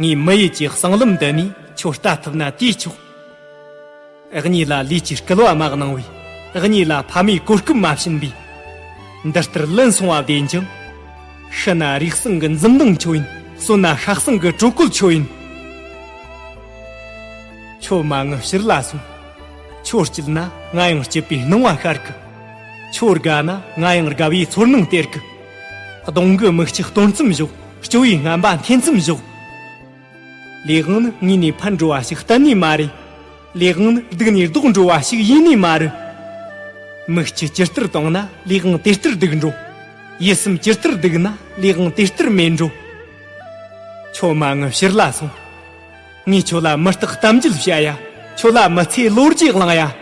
ངའི་མི་ཡུལ་གྱི་གསང་ལམ་འདི་ནས་ཁྱོད་ལྟ་ཐུབ་ན་ལྟོས་ཆོག། ཨག་ཉི་ལ་ལུས་ཀྱི་སྐལ་བ་མ་གནང་བས་ཨག་ཉི་ལ་ཕ་མའི་གོ་སྐབས་མ་བྱིན་པས། འདི་ལྟར་ལན་སོང་བ་བདེན་ཅིང། ཤི་ན་རིགས་བསྲུང་གི་འཛུམ་མདངས་ཁྱོད་ཡིན་གསོན་ན་ཧྲག་བསྲུང་གི་དྲོད་ཁོལ་ཁྱོད་ཡིན། ཁྱོད་མ་ངུ་ཕྱིར་ལ་སོན། ཁྱོད་སྐྱིད་ན་ང་ཡང་སྐྱིད་པའི་སྣང་བ་ཤར་གི། ཁྱོད་དགའ་ན་ང་ཡང་དགའ་བའི་ཚོར་སྣང་སྟེར་གི། གདོང་གི་མིག་གཅིག་སྟོང་ཙམ་བཞོག། སྐྱོ་བའི་རྔན་པ་འཐེན་ཙམ་བཞོག། ལས་དབང་ནི་ངུས་ནས་ཕར་འགྲོ་བ་ཞིག་གཏན་ནས་མ་རེད། ལས་དབང་ནི་སྡུག་ནས་ལྡོག་འགྲོ་བ་ཞིག་ཡེ་ནས་མ་རེད། མིག་སྤྱི་ཇི་ལྟར་གཏོང་ན་ལས་དབང་དེ་ལྟར་སྡུག་འགྲོ། ཡིད་སེམས་ཇི་ལྟར་སྡུག་ན་ལས་དབང་དེ་ལྟར་མེད་འགྲོ། ཁྱོད་མ་ངུ་ཕྱིར་ལ་སོང། ངས་ཁྱོད་ལ་མི་རྟག་གཏམ་རྒྱུད་བཤད་ཡ། ཁྱོད་ལ་མི་ཚེའི་ལོ་རྒྱུས་བླངས་ཡ།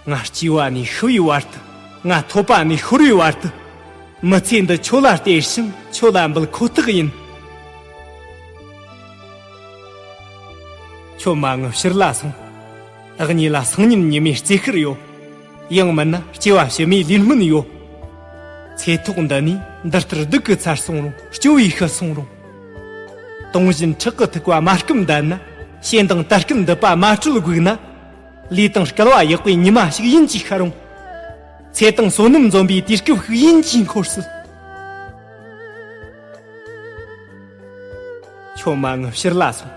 ང་སྐྱེས་བ་ནས་ཤི་བའི་བར་དུ། ང་ཐོབ་པ་ནས་ཤོར་བའི་བར་དུ། མི་ཚེ་འདི་ཁྱོད་ལ་སྟེར་ཞིང་ཁྱོད་ལ་འབུལ་ཁོ་ཐག་ཡིན། ཁྱོད་མ་ངུ་ཕྱིར་ལ་སོང། བདག་ཉིད་ལ་སང་ཉིན་ཉི་མའི་རྩིས་ཤིག་ཡོད། ཡང་མིན་ན་སྐྱེ་བ་ཕྱི་མའི་ལུས་སྨིན་ཡོད། ཚེ་ཐོག་འདི་ནས་འདི་ལྟར་སྡུག་གི་ཚར་སོང་རུང་སྐྱོ་བའི་ཤི་སོང་རུང། དུངས་བཞིན་ཁྲག་གི་ཐུག་པ་མ་སྐུམ་བསྡད་ན། ཞེ་འདང་དར་སྐན་འདི་པ་མ་དྲོད་སྒུག་ན། ལུས་དང་སྐལ་བ་ཡག་པོའི་ཉི་མ་ཞིག་ཡིན་གྱི་ཤ་རུང། ཚེ་དང་བསོད་ནམས་འཛོམས་པའི་དུས་སྐབས་ཤིག་ཡིན་གྱི་འཁོར་སྲིད། ཁྱོད་མ་ངུ་ཕྱིར་ལ་སོང།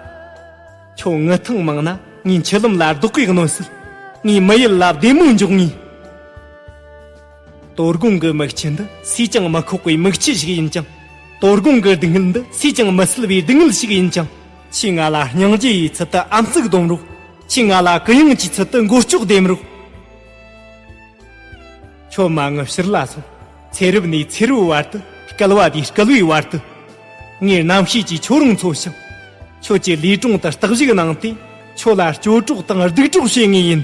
ཁྱོད་ངུ་ཐེངས་མང་ན་ངའི་མཆུ་ལུམ་ལ་རྡོག་གིས་གནོན་སྲིད། ངའི་མི་ཡུལ་ལ་བདེ་མོ་འཇོག་ངེས། དོ་དགོང་གི་མིག་ཆུ་འདི་སུས་ཀྱང་མི་ཁོག་པའི་མིག་ཆུ་ཞིག་ཡིན་ཀྱང། དོ་དགོང་གི་སྡུག་བསྔལ་འདི་སུས་ཀྱང་མི་སེལ་བའི་སྡུག་བསྔལ་ཞིག་ཡིན་ཀྱང། ཁྱོས་ང་ལ་སྙིང་རྗེ་ཡི་ཚུལ་དུ་ཨམ་གཙིགས་སྡོམ་རོགས། ཁྱོས་ང་ལ་གུ་ཡངས་ཀྱི་ཚུལ་དུ་མགོ་ལྕོག་ལྡེམ་རོགས། ཁྱོད་མ་ངུ་ཕྱིར་ལ་སོང། ཚེ་རབས་ནས་ཚེ་རབས་བར་དུ་སྐལ་བ་དེའི་སྐལ་བའི་བར་དུ། ངས་རྣམ་ཤེས་ཀྱིས་ཁྱོད་རང་འཚོ་ཞིང། ཁྱོད་ཀྱི་ལུས་དྲུང་དུ་རྟག་བཞུགས་གནང་སྟེ་ཁྱོད་ལ་སྐྱོ་གྲོགས་དང་སྡུག་གྲོགས་བྱེད་ངེས་ཡིན།